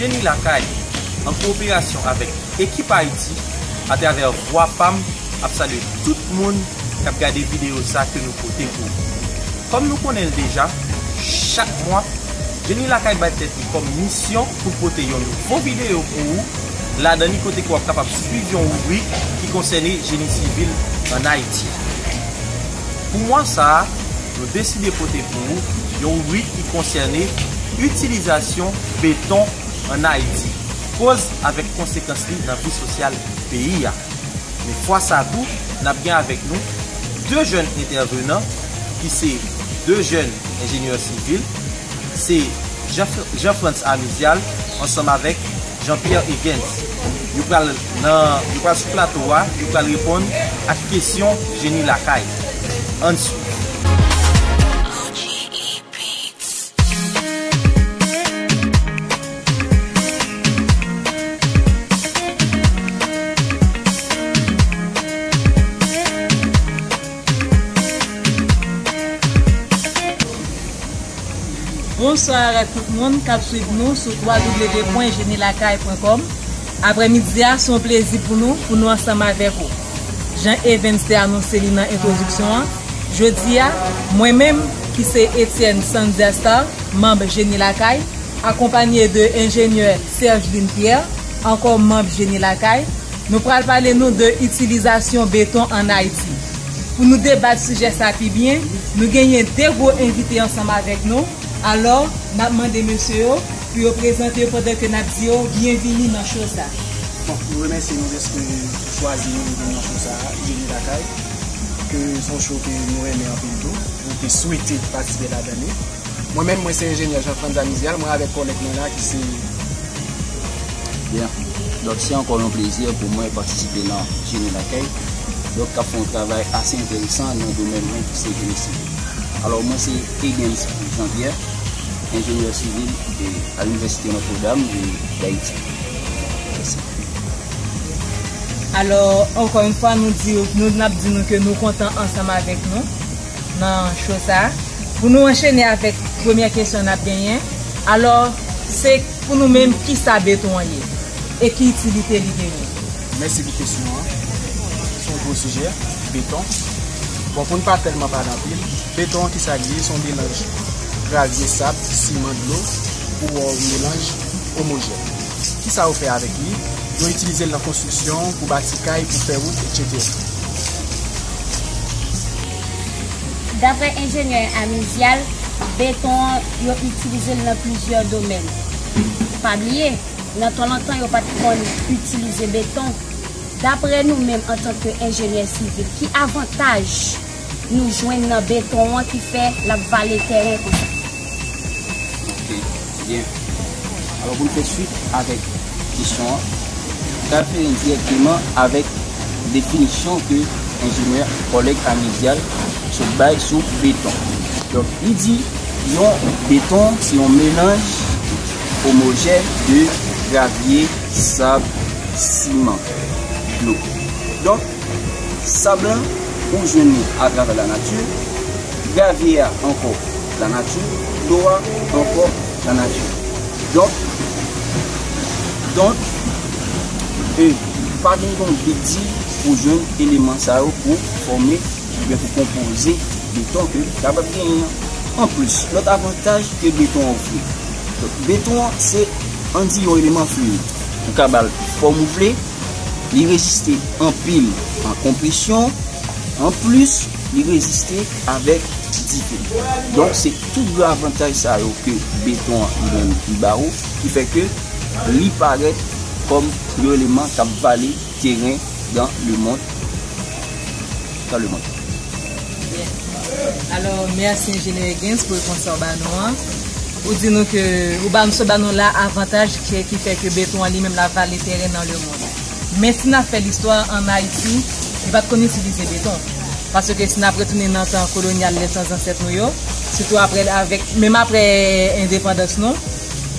Jeni lakay, an kowoperasyon avèk Ekip Ayiti, atravè Vwa Pa M, ap salye tout moun k ap gade videyo sa ke nou pote pou ou. Kòm nou konnen l deja, chak mwa, Jeni lakay bay tèt li kòm misyon, pou pote yon nouvo videyo pou ou, ladan li kote ke wap kapab swiv yon ribrik ki konsène Jeni Sivil an Ayiti. Pou mwa sa a, nou deside pote pou ou yon ribrik ki konsène itilizasyon beton an Ayiti, koz avèk konsekans li nan vi sosyal peyi a. Men fwa sa a tou, nap gen avèk nou 2 jèn entèvenan ki se 2 jèn enjenyè sivil, se Jean Frantz Amizial ansanm avèk Jean Pierre Egens. Yo pral nan, yo pral sou plato a, yo pral reponn ak kesyon jeni lakay. Ann swiv. Bonsoir ak tout moun kap swiv nou sou www.jenilakay.com Aprè midi a se yon plezi pou nou pou nou ansanm avèk ou Jan Evens te anonse li nan entwodiksyon an Jodi a mwen menm ki se Etienne Sandia Star manb Jeni Lakay akonpanye de Enjenyè Sergeline Pierre ankò manb Jeni Lakay Nou pral pale nou de itilizasyon beton an Ayiti. Pou nou debat sijè sa pi byen, nou genyen 2 gwo envite ansanm avèk nou, alò n ap mande mesye yo pou yo prezante yo pandan ke n ap di yo byenvini nan show sa. Bon, nou remèsye nou dèske ou chwazi nou vin nan show sa, Jeniv Akay, ke son show ke nou renmen anpil tou, nou te swete patisipe ladan li. Mwen menm mwen se enjenyè Jean Frantz Amizial, mwen avèk kòlèg mwen la ki se. Bien. Donk se ankò yon plezi pou mwen patisipe nan Jeni Lakèy, donk k ap fè yon travay ase enteresan nan domèn mwen ki se Jeni Sivil. Alò mwen se Egens Jean Pierre, enjenyè sivil e a Université Notre Dame de d'Haiti. Mèsi. Alò ankò yon fwa nou di yo, nou n ap di nou ke nou kontan ansanm avèk nou. nan show sa pou nou anchene avèk premyè kesyon nap genyen alò se pou nou menm kisa beton an ye e ki itilite li genyen? Mèsi pou kesyon an, se yon gwo sijè, beton, bon pou n pa tèlman pale anpil, beton an kisa li ye, se yon melanj gravye, sab, siman, dlo ou yon melanj omojèn, kisa yo fè avèk li, yo itilize l nan konstriksyon pou bati kay, pou fè wout etc. Daprè enjenyè Amizial, beton an yo itilize l nan plizyè domèn. Pa bliye, nan tan lontan yo pa t konn itilize beton. Daprè nou menm antanke enjenyè sivil, ki avantaj nou jwenn nan beton an ki fè l ap vale tèren konsa? Ok byen Alò pou n fè swit avèk kesyon an Ou ta fè li dirèkteman avèk definisyon ke enjenyè Oleg Amedial sot bay sou beton Donk li di yon beton se yon melanj omojè de gravye, sab, siman, dlo Donk sab lan ou jwenn li atravè lanati Gravye a ankò lanati, dlo a ankò lanati. Donk, donk, e pa vin gen yon big di pou jwenn eleman sa yo pou fòme oubyen pou konpoze beton ke ou kapab genyen an. Anplis, lòt avantaj ke beton ofri. Donk, beton an se, an di yon eleman fluid. Ou ka ba l fòm ou vle, li reziste anpil a konpresyon. Anplis. li reziste avèk dite. Donk se tout gwo avantaj sa yo ke beton an li menm li ba ou ki fè ke li parèt kòm yon eleman k ap vale teren dan le mond. Dan le mond. Byen. Alò, mèsi enjenyè Huguens pou repons sa ou ba nou an. Ou di nou ke, ou ba nou, sot ba nou la avantaj ke ki fè ke beton an li menm la vale teren dan le mond. Men si n ap fè listwa an Ayiti, li pa t konn itilize beton. Paske si n ap retounen nan tan kolonyal lè tan zansèt nou yo, sitou apre l avèk, menm apre endepandans nou,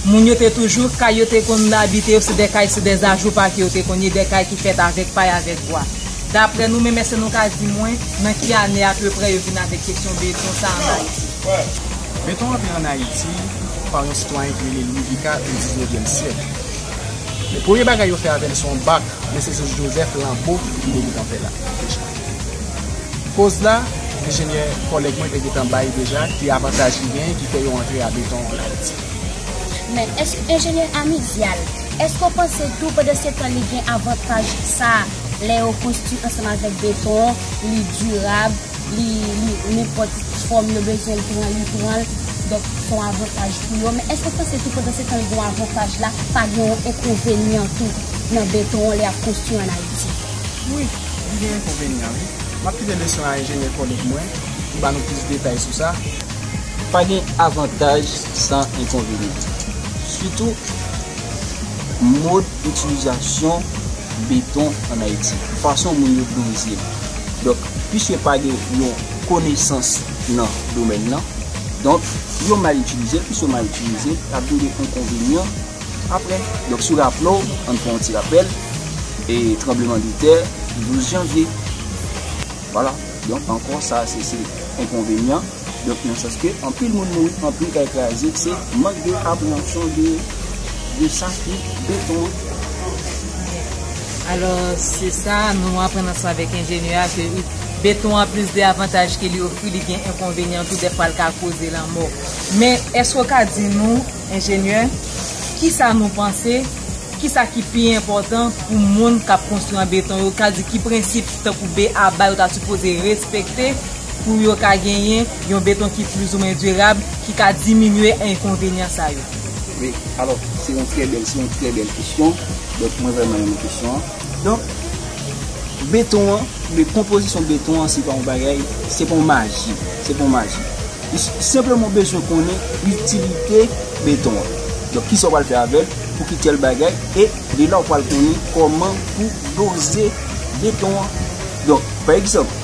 moun yo te toujou, kay yo te konn abite yo se de kay se de ajoupa ke yo te konn ye, de kay ki fèt avèk pay, avèk bwa. Dapre nou menm èske nou ka di mwen nan ki ane apeprè yo vin avèk kesyon beton sa an Ayiti? Beton antre an Ayiti pa yon sitwayen ki rele Louis Vicat o diznevyèm syèk. Men premye bagay yo fè avè l se yon bak men se Jezi Joseph Lambeau ki te gen tan fè l la deja. Koz la, enjenyè kòlèg mwen te gen tan bay deja ki avantaj li genyen ki fè yo antre a beton an Ayiti. Men, èske enjenyè Amidial, èske w panse tou pandan se tan li gen avantaj sa a lè yo konstwi ansanm avèk beton an, li dirab? Li nenpòt fòm yo bezwen l pran li pran l donk son avantaj pou yo men eske sa se tou pandan se tan li gon avantaj la pa gen yon enkonvenyan tou nan beton an lè yap konstwi an ayiti. Wi, li gen enkonvenyan wi. M ap kite leson a enjenyè kòlèg mwen pou ba nou plis detay sou sa. Pa gen avantaj san enkonvenyan. Sitou mòd itilizasyon beton an Ayiti. Fason moun yo doze l. Donk. piske pa gen yon konesans nan domèn nan, donk yo mal itilize l, plis yo mal itilize l, ap vin gen enkonvenyan aprè. Donk si w raple w, an n fè yon ti rapèl, e tranbleman de tè 12 janvye, wala, donk ankò sa se enkonvenyan. Donk nan sans ke anpil moun mouri, anpil kay kraze, se mank de apreyansyon de sa ki beton an. Alò se sa nou aprann ansanm avèk enjenyè a ke beton an plis de avantaj ke li ofri li gen enkonvenyan tou dèfwa li ka koze lanmò. Men èske ou ka di nou enjenyè kisa nou panse, kisa ki pi enpòtan pou moun kap konstwi an beton yo, sa vle di ki prensip tankou BABA yo ta sipoze respekte? pou yo ka genyen yon beton ki plizoumen dirab ki ka diminye enkonvenyan sa yo? Wi, alò, se yon trè bèl, se yon trè bèl kesyon. Donk, mwen vrèman renmen kesyon an. Donk, beton an, konpozisyon beton an se pa yon bagay, se pa yon maji, se pa yon maji. Ou senpleman bezwen konnen itilite beton an. Donk, ki sa ou pral fè avè l, pou ki tèl bagay, e de la ou pral konnen kòman pou doze beton an. Donk, pa egzanp.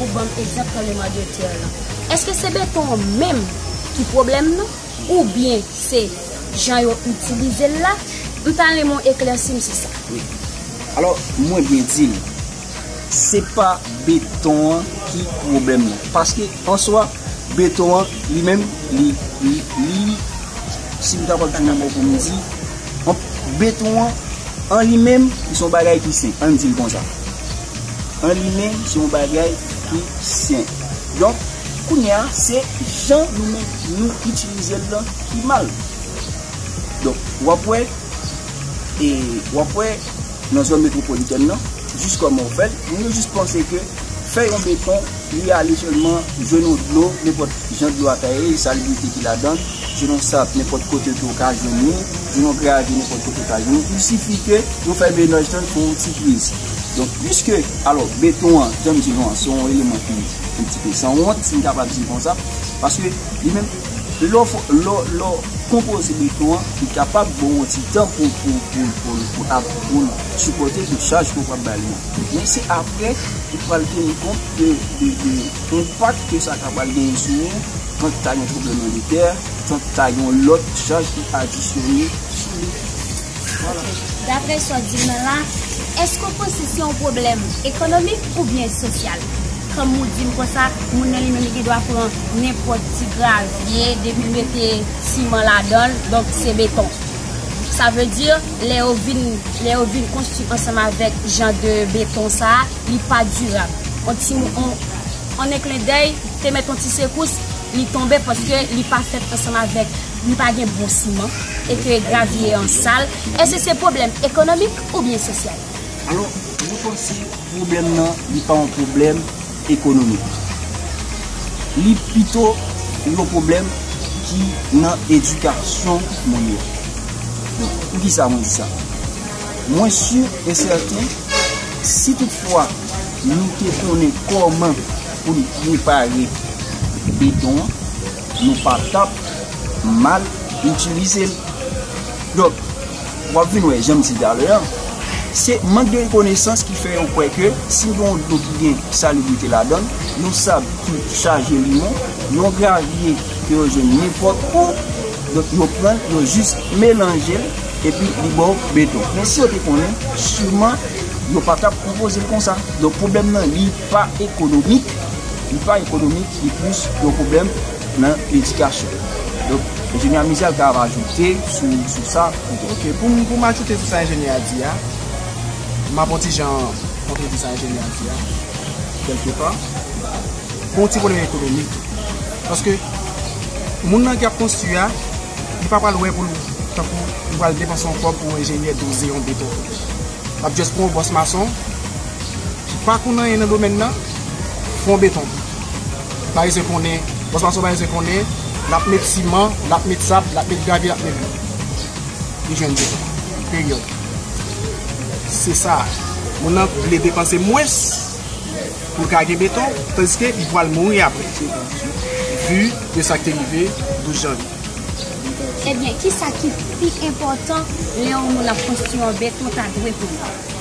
Ou banm egzanp tranbleman de terre lan. Eske se beton an menm ki pwoblèm nan ou byen se jan yo itilize l la? M ta renmen w eklèsi m sou sa. Wi. Alò mwen byen di l, se pa beton an ki pwoblèm nan. Paske an swa beton an li menm li, li, si m ta kapab tounen bò w pou m di, beton an an li menm li s on bagay ki sen, an n di l konsa. An li menm se yon bagay ki senp. Donk, kounye a, se jan nou menm nou itilize l lan ki mal. Donk, w ap wè, e w ap wè nan zòn metwopolitèn lan, jis kòman yo fè l, moun yo jis panse ke fè yon beton, li ale sèlman jwenn yon dlo, nenpòt jan dlo a ta ye, salibrite ki ladan l, jwenn yon sab nenpòt kote ke w ka jwenn li, jwenn yon gravye nenpòt kote w ka jwenn li, il sifi ke nou fè menaj lan pou yon ti priz. Donk, piske, alò, beton an, jan m di nou an, se yon eleman ki yon ti pe san wont, si m kapab di l konsa, paske, li menm, lè w, lè w, lè w konpoze beton an, li kapab ba w yon ti tan pou, pou, pou l, pou l, pou l ap, pou l sipòte tout chaj ke w pral ba li an. Men se apre, ou pral teni kont de, de, de enpak ke sa ta pral genyen sou ou, tank ta gen tranbleman de tè, tank ta gen yon lòt chaj ki adisyone sou li. Ok, dapre sa w di m nan la, èske w panse se yon pwoblèm ekonomik oubyen sosyal? Kòm ou di m konsa, moun nan li menm li gen dwa pran nenpòt ti gravye depi l mete siman ladan l, donk se beton. Sa vle di, lè yo vin, lè yo vin konstwi ansanm avèk jan de beton sa a, li pa dirab. On ti mo, on, an en klen dèy, te mèt on ti sekous, li tonbe paske li pa fèt ansanm avèk. li pa gen bon siman e ke gravye an sal, èske se pwoblèm ekonomik oubyen sosyal? Alò, mwen panse pwoblèm nan li pa yon pwoblèm ekonomik. Li pito yon pwoblèm ki nan edikasyon moun yo. Donk, pou ki sa mwen di sa? Mwen si e sèten, si tout fwa nou te konnen kòman pou nou prepare beton an, Nou pa tap mal itilize l. Donk, w ap vin wè, jan m di talè a, se mank de konesans ki fè yo kwè ke si w gen yon dlo ki gen salibrite ladan l, yon sab ki chaje limon, yon gravye ke yo jwenn nenpòt kou, donk yo pran l, yo jis melanje l, epi li ba w beton. Men si yo te konnen, siman yo pa tap konpoze l konsa. Donk, pwoblèm nan li. Pa ekonomik, li pa ekonomik, li plis yon pwoblèm nan edikasyon. Donk, enjenyè Amiza l ta va ajoute sou sa pou. Ok, pou m ajoute sou sa enjenyè a di a, m ap yon ti jan kontredi sa enjenyè a di a, kèlke pa. Pou yon ti pwoblèm ekonomik tou. Paske, moun nan ki ap konstwi a, li pa pral wè pou l, tankou, li pral depanse yon kòb pou enjenyè doze yon beton. L ap just pran yon bòs mason. Ki pa konnen anyen nan domèn nan, fon beton pou li. Parisien konnen, bòs mason parisien konnen, l ap met siman, l ap met sab, l ap met gravye, l ap met brik. Li jwenn beton. Peryòd. Se sa. Moun nan vle depanse mwens pou l ka gen beton, tandiske li pral mouri apre. Vu de sa k te rive 12 janvye. Ebyen, ki sa ki pi enpòtan lè yon moun ap konstwi an beton ta dwe konnen?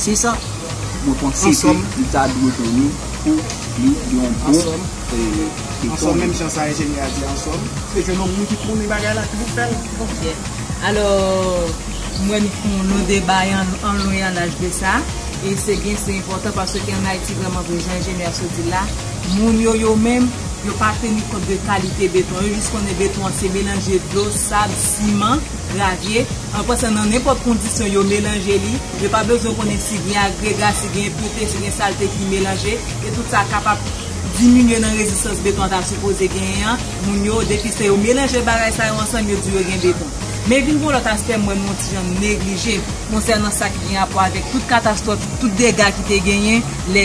Se sa mwen panse ke li ta dwe done pou li gen yon bon feyton. Ansòm menm jan sa enjenyè a di ansòm. Se jwenn yon moun ki konnen bagay la ki pou fèl. Ok alò m wè nou fon lon deba an lon e an laj de sa e se byen se enpòtan paske an Ayiti vrèman vre jan enjenyè a sot di l la moun yo yo menm yo pa teni kont de kalite beton yo jis konnen beton an se melanje dlo, sab, siman. Gravye, an pasan nan nenpòt kondisyon yo melanje li, yo pa bezwen konnen si gen agrega, si gen enpirte, si gen salte ki melanje, e tout sa kapab diminye nan rezistans beton an ta sipoze genyen an, moun yo, depi se yo melanje bagay sa yo ansanm yo di yo gen beton. Men vin gen yon lòt aspè m wè nou yon ti jan neglije konsènan sa ki gen rapò avèk tout katastwòf, tout dega ki te genyen lè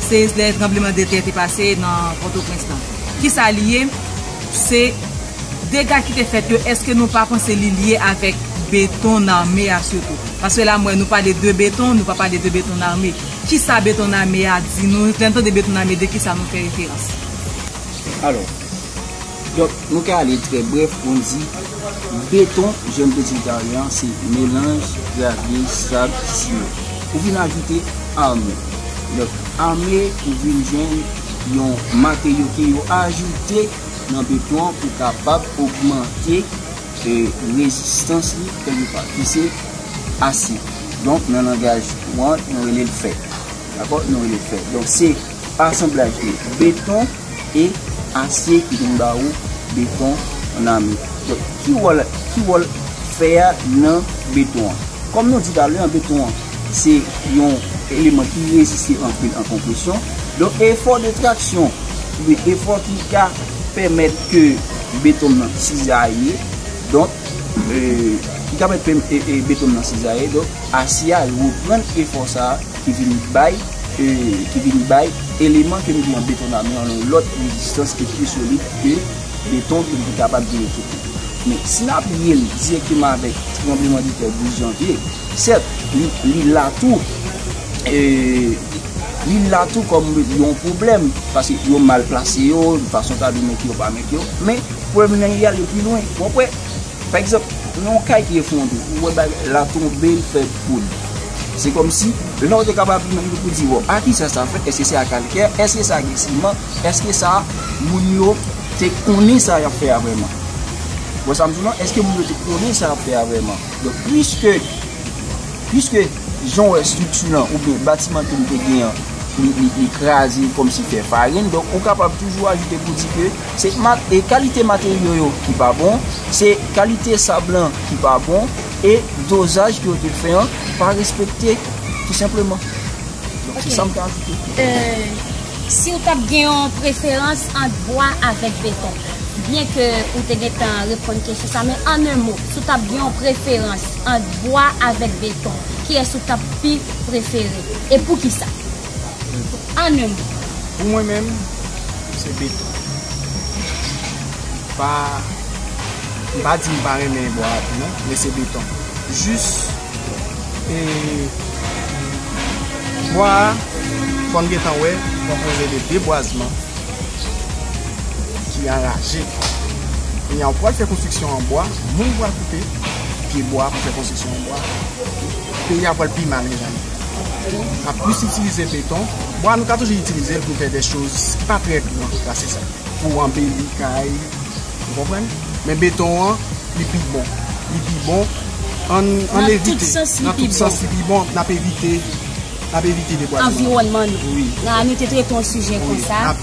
seyis, lè tranbleman de tè te pase nan Pòtoprens lan. Ki sa li ye? Se. Dega ki te fèt yo eske nou pa panse li lye avèk beton name a sitou? Paske la m wè nou pale de beton, nou pa pale de beton name. Kisa beton name a di nou? Lè n tande beton name de kisa nou fè referans? Alò, donk nou ka ale trè brèf pou n di beton jan m te di l ta lè an se melanj gravye, sab, siman. Ou vin ajoute ame. Donk ame ou vin jwenn yon materyo ke yo ajoute. nan beton an pou kapab ogmante rezistans li kèlke pa ki se asid. Donk nan langaj ou an nou rele l fè. Dakò? Nou rele l fè. Donk se asanblaj de beton e asye ki vin ba ou beton an ami. Donk ki wòl fè a nan beton an? Kòm nou di talè an beton an. Se yon eleman ki reziste anpil an konpresyon. Donk efò de traksyon oubyen efò ki ka pèmèt ke beton nan sizaye. Donk, ki ka pèmèt beton nan sizaye. Donk, asye a reprann efò sa a ki vin bay, ki vin bay eleman ke nou gen an beton nan yon lòt rezistans ki pi solid ke beton ke nou te kapab genyen tout bon. Men, si n aplye l direkteman avèk tranbleman de tè 12 janvye. Sèt, li la tou, li la tou kòm yon pwoblèm, paske yo mal plase yo, yon fason ta di mete yo pa mete yo, men pwoblèm nan y ale pi lwen, wap wè, pa egzanp, yon kay ki efondre, ou wè bagay la tonbe, l fè poud, se kòm si, lè w te kapab imajine pou di, bon, a kisa sa fèt, èske se a kalkè, èske sa gen siman, èske sa, moun yo te konnen sa y ap fè a vrèman, wè sa m di w la, èske moun yo te konnen sa y ap fè a vrèman. Donk pwiske, pwiske jan w wè estrikti lan oubyen batiman ke nou te gen an, li kraze kòm si fè farin, donk ou kapab toujou ajoute pou di ke se kalite materyo yo ki pa bon, se kalite sab lan ki pa bon, e dozaj ke yo te fè an pa respekte tou senpleman. Donk se sa m ka ajoute. Si w t ap gen yon preferans ant bwa avèk beton? Byen ke ou te gentan reponn kesyon sa men an 1 mo si w tap gen yon preferans ant bwa avèk beton kiyès ou tap pi prefere e poukisa? Beton. An 1 mo. Pou mwen menm se beton. M pa m pa di m pa renmen bwa a tou non men se beton. Jis e bwa a fò n gentan wè konpoze de debwazman. ki anraje. Kounye a ou pral fè konstriksyon an bwa, moun pral koupe pye bwa pou fè konstriksyon an bwa. Peyi a pral pi mal mezanmi. N ap plis itilize beton. Bwa nou ka toujou itilize l pou fè de choz ki pa trè gran pase sa. Pou anbeli kay, ou konprann? Men beton an, li pi bon. Li pi bon. An n evite. Nan tout sans li pi bon. Nan tout sans li pi bon. N ap evite. anviwònman nou. Nan nou te trete yon sijè konsa,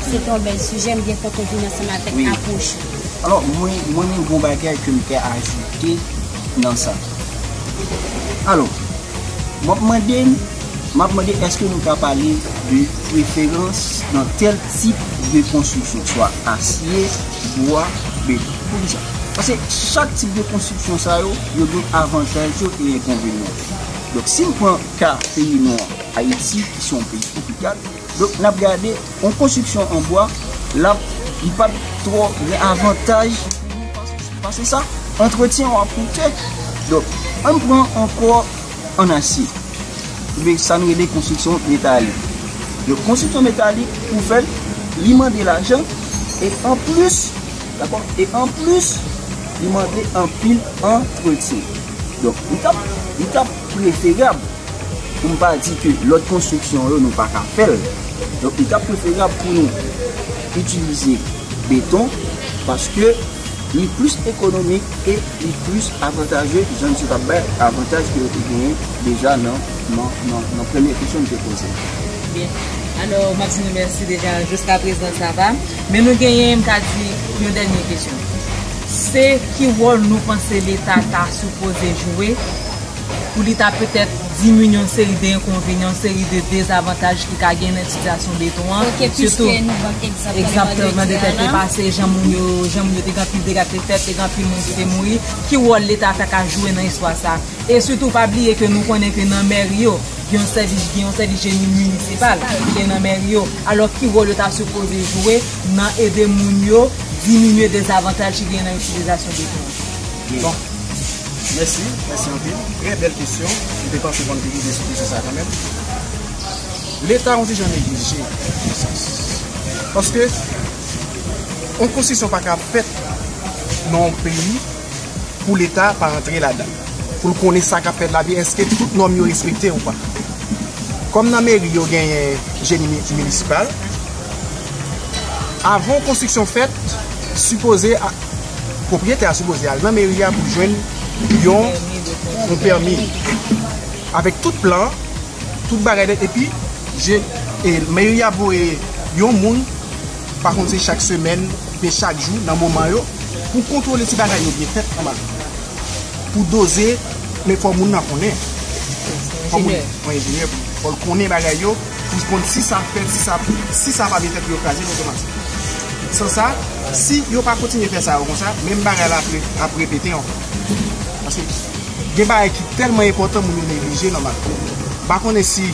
se te yon bèl sijè, m byen kontan vin ansanm avèk apwòch ou. Alò, mwen gen yon bagay ke m te ajoute nan sa. Alò, m ap mande, m ap mande eske nou ka pale de preferans nan tèl tip de konstriksyon, swa asye, bwa, beton. Poukisa? Pase chak tip de konstriksyon sa yo, yo gen avantaj yo e enkonvenyan. Donk si n pran ka peyi nou an, Ayiti, ki se yon peyi twopikal, donk n ap gade yon konstriksyon an bwa, li pap twò gen avantaj pou nou pase sa, antretyen yo ap koute. Donk, an n pran yon kò an asye, oubyen sa nou rele konstriksyon metalik. Donk, konstriksyon metalik, pou fè l, li mande lajan, e anplis, dakò, e anplis, li mande anpil antretyen. Donk, li tap, li tap preferab, pou m pa di ke lòt konstriksyon yo nou pa ka fè l, donk li tap preferab pou nou itilize beton, paske li plis ekonomik e li plis avantaje, jan misye tap bay avantaj ke yo te genyen deja nan, nan, nan, nan premye kesyon li te poze a. Byen. Alò, m ap di nou mèsi deja, jiskaprezan sa va. Men nou genyen, m ka di, yon dènye kesyon. Se ki wòl nou panse leta ta sipoze jwe pou li ta petèt diminye yon seri de enkonvenyan, yon seri de dezavantaj ki ka gen nan sitiyasyon beton an? Ok, piske nou ban egzanp Tèlman de Dyana. Egzanp Tèlman de Dyana pase, jan moun yo, jan moun yo te gen anpil dega ki te fèt, te gen anpil moun ki te mouri. Ki wòl leta ta ka jwe nan istwa sa? E sitou pa bliye ke nou konnen ke nan mèri yo, gen yon sèvis, gen yon sèvis jeni minisipal ki gen nan mèri yo. Alò ki wòl yo ta sipoze jwe? nan ede moun yo diminye dezavantaj ki genyen nan itilizasyon beton an. Bon. Mèsi, mèsi anpil. Trè bèl kesyon. M te panse konn pi rive sou kesyon sa a kanmenm. Leta on ti jan neglije nan yon sans. Paske, on konstriksyon pa ka fèt nan on peyi pou Leta pa antre ladan l. Pou l konnen sa k ap fèt la byen, èske tout nòm yo respekte ou pa. Kòm nan meri yo genyen jeni minisipal. Avan yon konstriksyon fèt, sipoze pwopriyetè a sipoze al nan meri a pou jwenn yon pèmi avèk tout plan, tout bagay nèt epi meri a voye yon moun, pa konn se chak semèn oubyen chak jou nan moman yo pou kontwole si bagay yo byen fèt anba tè a. Pou doze men fò moun nan konnen, fò moun enjenyè pou li, fò l konnen bagay yo. Pou konn si sa fèt, si sa, si sa pa metèt pou yo kraze l otomatik. San sa, si yo pa kontinye fè sa yo konsa, menm bagay la ap repete ankò. Paske gen bagay ki tèlman enpòtan moun yo neglije nòmal. M pa konnen si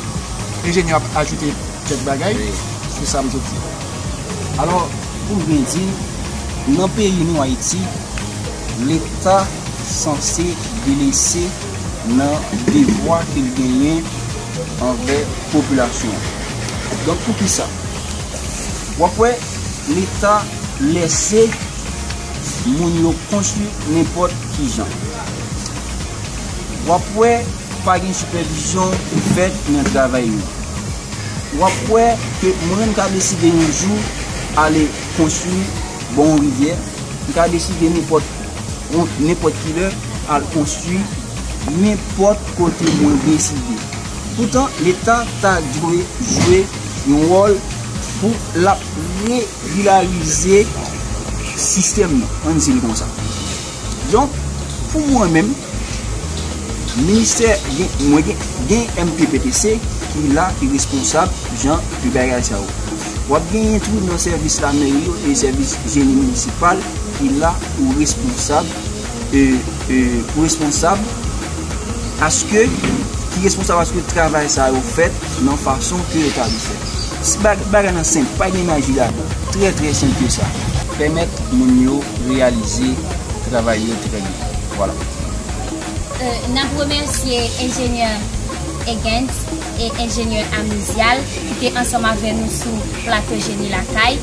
enjenyè yo ap ajoute kèk bagay sou sa m sot di. Alò, pou m byen di, nan peyi nou Ayiti, leta sanse delese. nan devwa ke l genyen anvè popilasyon an. Donk pou ki sa? W ap wè Leta lèse moun yo konstwi nenpòt ki jan. W ap wè pa gen sipèvizyon ki fèt nan travay yo. W ap wè ke mwen menm m ka deside yon jou ale konstwi bò yon rivyè, m ka deside nenpòt. Ou nenpòt kilè al oswi nenpòt kote mwen deside. Poutan leta ta dwe jwe yon wòl pou lap regilarize sistèm nan ann di l konsa. Donk pou mwen menm ministè mwen gen MPPTC ki la ki responsab jan de bagay sa yo. W ap genyen tou nan sèvis lamèri yo e sèvis jeni minisipal ki la pou responsab pou responsab aske ki responsab aske travay sa yo fèt nan fason ke yo ta dwe fèt. Bagay nan senp, pa gen maji ladan. Trè trè senp ke sa. Pèmèt moun yo reyalize travay yo trè byen. Vwala. N ap remèsye enjenyè Egent. e enjenyè Amizial ki te ansanm avè nou sou Plato Jeni Lakay.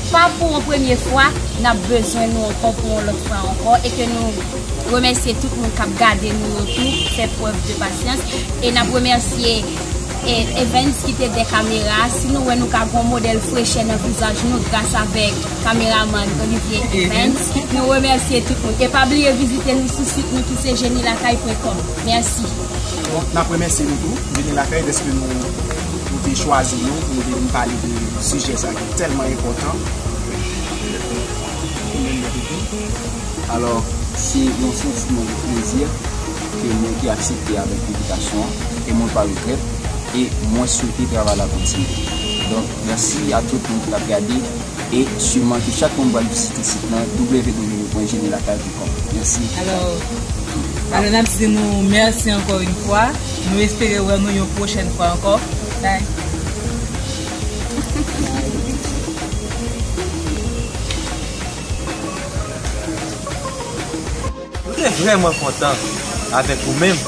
Pa pou yon premye fwa, n ap bezwen nou ankò pou yon lòt fwa ankò e ke nou remèsye tout moun k ap gade nou yo tou fè prèv de pasyans. E n ap remèsye Evens ki te dè kamera a. Si nou wè nou ka gen yon modèl frechè nan vizaj nou gras avèk kameramann Olivier Evens. Nou remèsye tout moun e pa bliye vizite nou sou sit nou ki se jenilakay pwen kòm. Mèsi. Donk nap remèsye nou tou vini lakay dèske nou te chwazi nou pou nou te vin pale de sijè sa ki tèlman enpòtan pou mwen mwen toutou. Alò se yon santiman de plezi ke mwen te aksepte avèk envitasyon an e mwen pa regrèt e mwen swete travay la kontinye. Donk mèsi a tout moun ki tap gade e siman ke chak moun pral vizite sit lan www.jenilakay. Alò n ap di nou mèsi ankò yon fwa, nou espere wè nou yon pwochèn fwa ankò, bye. Nou te vrèman kontan avèk ou menm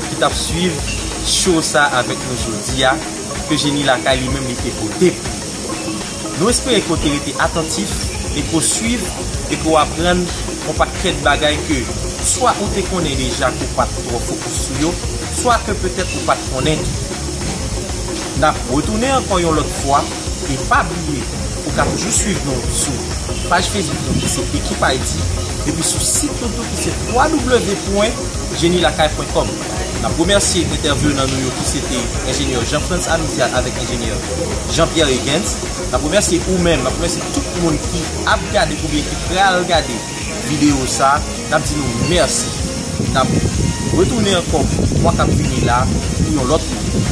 ki t ap swiv show sa avèk nou jodi a ke Jeni Lakay li menm li te pote pou ou. Nou espere ke w te rete atantif e ke w swiv e ke w aprann yon pakèt bagay ke swa ou te konnen deja ke w pa t twò fokis sou yo, swa ke petèt ou pa t konnen tou. N ap retounen ankò yon lòt fwa e pa bliye ou ka toujou swiv nou sou paj Facebook nou ki se Ekip Ayiti epi sou sit nou tou ki se www pwen jenilakay pwen kòm. N ap remèsye entèvenan nou yo ki se te Enjenyè Jean Frantz Amidiat avèk Enjenyè Jean Pierre Egens. N ap remèsye ou menm, n ap remèsye tout moun ki ap gade oubyen ki pral gade videyo sa. N ap di nou mèsi. N ap retounen ankò mwa k ap vini la pou yon lòt pwogram.